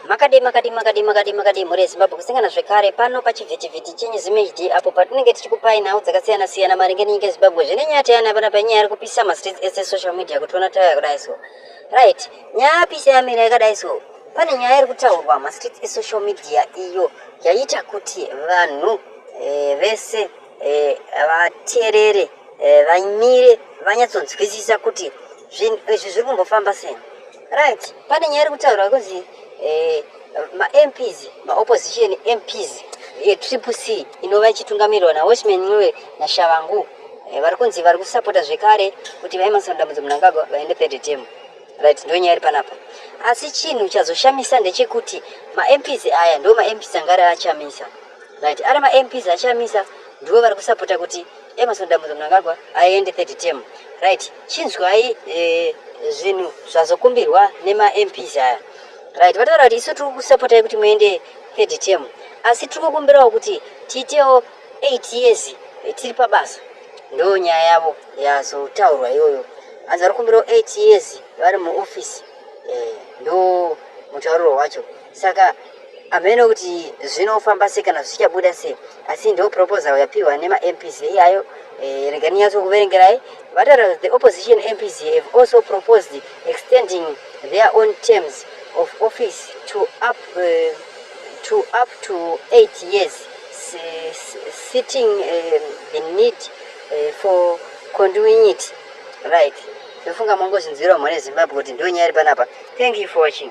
Makadii makadii makadii makadii makadii mhuri yeZimbabwe kusangana zvekare pano pachivhitivhiti chenyu ZimHD apo patinenge tichikupai nhau dzakasiyana siyana maringe nenyika yeZimbabwe zvine nyaya teyana apana panyaya iri kupisa mastreets ese social media kutiona taya kudai so right nyaya apise yamira yakadai so pane nyaya iri kutaurwa mastreets esocial media iyo yaita kuti vanhu eh, vese eh, vateerere eh, vamire vanyatsonzwisisa kuti zvinhu izvi zviri kumbofamba sei Right, pane nyaya iri kutaurwa kunzi eh, maMPs, maopposition MPs yetriple C inova ichitungamirirwa naWatchman Ncube naShavangu eh, vari kunzi vari kusapota zvekare kuti VaEmmerson Dambudzo Mnangagwa vaende third term. Right, ndiyo nyaya iri panapa. Asi chinhu chazoshamisa ndechekuti maMPs aya ndo maMPs anga ari achamisa. Right, ari maMPs achamisa ndiwo vari kusapota kuti Emerson Dambudzo Mnangagwa aende third term right chinzwai eh, zvinhu zvazokumbirwa nemaMPs aya right vataura kuti isu tiri kusapotai kuti muende third term asi tiri kukumbirawo kuti tiitewo eight years eh, tiri pabasa ndo nyaya yavo yazotaurwa iyoyo hanzi vari kukumbirawo eight years vari muofisi eh, ndo mutauriro wacho saka hameno kuti zvinofamba se kana zvichabuda se asi ndo proposal yapiwa nemamps iyayo eh, rega ninyatso kuverengerai vataura the opposition mps have also proposed extending their own terms of office to up, uh, to, up to eight years sitting uh, the need uh, for condoing it right ndofunga mongozvinzwirawo mhone zimbabwe kuti ndonyaya iri panapa thank you for watching